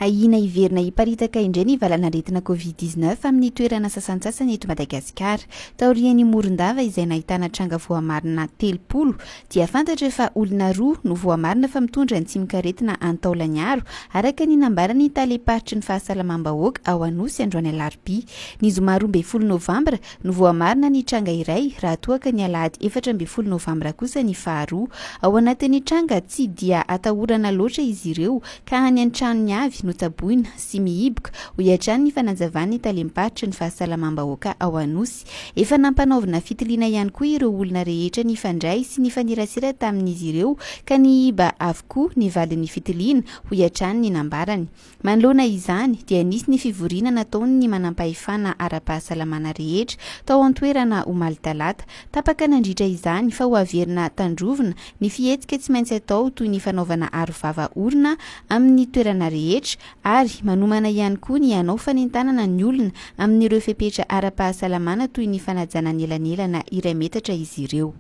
Ahiana hiverina hiparitaka indray ny valanaretina Covid dix neuf amin'ny toerana sasantsasany eto Madagasikara. Taorian'i Morondava izay nahitana tranga voamarina telopolo dia fantatra fa olona roa no voamarina fa mitondra ny tsimok'aretina any Taolagnaro araka ny nambaran'ny Talem-paritry ny Fahasalamam-bahoaka ao Anosy androany alarobia. Ny zoma roa ambin'ny folo novambra no voamarina ny tranga iray raha toa ka ny alahady efatra ambin'ny folo novambra kosa ny faharoa. Ao anatin'ny tranga tsy dia atahorana loatra izy ireo ka any an-tranony avy no tsaboina sy mihiboka, hoy hatrany ny fanazavan'ny talem-paritry ny fahasalamam-bahoaka ao Anosy. Efa nampanaovina fitiliana ihany koa ireo olona rehetra nifandray sy nifanerasera tamin'izy ireo ka nihiba avokoa ny vadin'ny fitiliana, hoy hatrany ny nambarany. Manoloana izany dia nisy ny fivoriana nataon'ny manampahefana ara-pahasalamana rehetra tao an-toerana omaly talata. Tapaka nandritra izany fa hoaverina tandrovina ny fihetsika tsy maintsy atao toy ny fanaovana arovava orona amin'ny toerana rehetra ary manomana ihany koa ny hanao fanentanana ny olona amin'ireo fepetra ara-pahasalamana toy ny fanajana ny elanelana iray metatra izy ireo.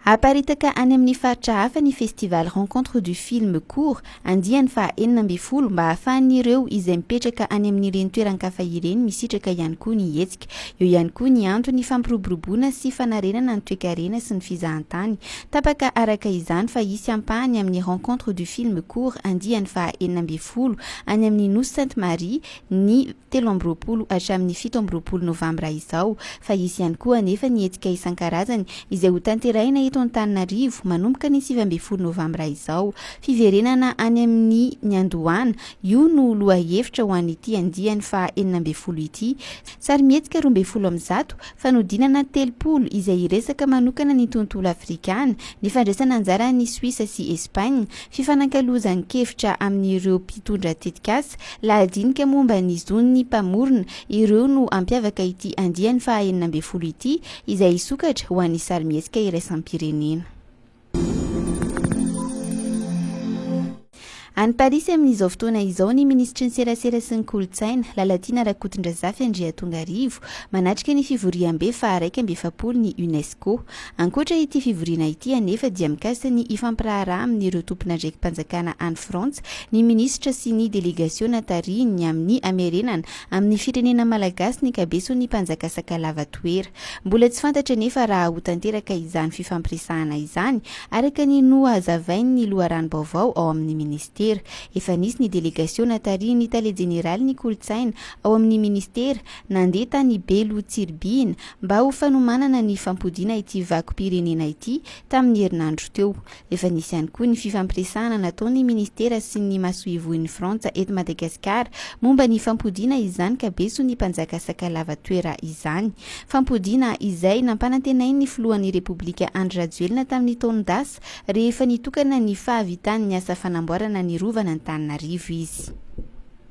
Haparitaka any amin'ny faritra hafa ny Festival Rencontre du Film Court andiany faha enina ambin'ny folo mba hahafahan'ireo izay mipetraka any amin'ireny toeran-kafa ireny misitraka ihany koa ny hetsika. Eo ihany koa ny antony fampiroboroboana sy fanarenana ny toekarena sy ny fizahantany. Tapaka araka izany fa hisy ampahany amin'ny Rencontre du Film Court andiany faha enina ambin'ny folo any amin'ny Nosy Sainte Marie ny telo amby roapolo hatramin'ny fito amby roapolo novambra izao, fa hisy ihany koa anefa ny hetsika isan-karazany izay ho tanterahina eto Antananarivo manomboka ny sivy ambin'ny folo novambra izao. Fiverenana any amin'ny niandohana, io no lohahevitra ho an'ity andiany faha enina ambin'ny folo ity. Sarimihetsika roa ambin'ny folo amin'ny zato, fanodinana telopolo izay hiresaka manokana ny tontolo afrikàna, ny fandraisana anjaran'i Suisse sy Espagne, Fifanankalozan-kevitra amin'ireo mpitondra tetikasa, lahadinika momba ny zon'ny mpamorona, ireo no hampiavaka ity andiany faha enina ambin'ny folo ity, izay hisokatra ho an'ny sarimihetsika iraisam-pirenena. Any Parisy amin'izao fotoana izao ny minisitry ny Serasera sy ny Kolontsaina, Lalatiana Rakotondrazafy Andriatongarivo, manatrika ny fivoriambe faha iraika amby efapolo ny UNESCO. Ankoatra ity fivoriana ity anefa dia mikasika ny hifampiraharaha amin'ireo tompon'andraiki-panjakana any Frantsa ny minisitra sy ny delegasiona tarihiny amin'ny hamerenana amin'ny firenena malagasy ny ankabeson'ny mpanjaka Sakalava Toera. Mbola tsy fantatra anefa raha ho tanteraka izany fifampiresahana izany araka ny nohazavain'ny loharanom-baovao ao amin'ny minisitera. Efa nisy ny delegasiona tarihin'ny tale jeneralin'ny kolontsaina ao amin'ny minisitera nandeha tany Belo Tsiribihina mba ho fanomanana ny fampodiana ity vakom-pirenena ity tamin'ny herinandro teo. Efa nisy ihany koa ny fifampiresahana nataon'ny Ministera sy ny Masoivohon'i Frantsa eto Madagasikara momba ny fampodiana izany ka beso ny mpanjaka Sakalava toera izany. Fampodiana izay nampanantenain'ny Filohan'ny Repoblika Andry Rajoelina tamin'ny taon-dasa rehefa nitokana ny fahavitan'ny asa fanamboarana ny Rovan'Antananarivo izy.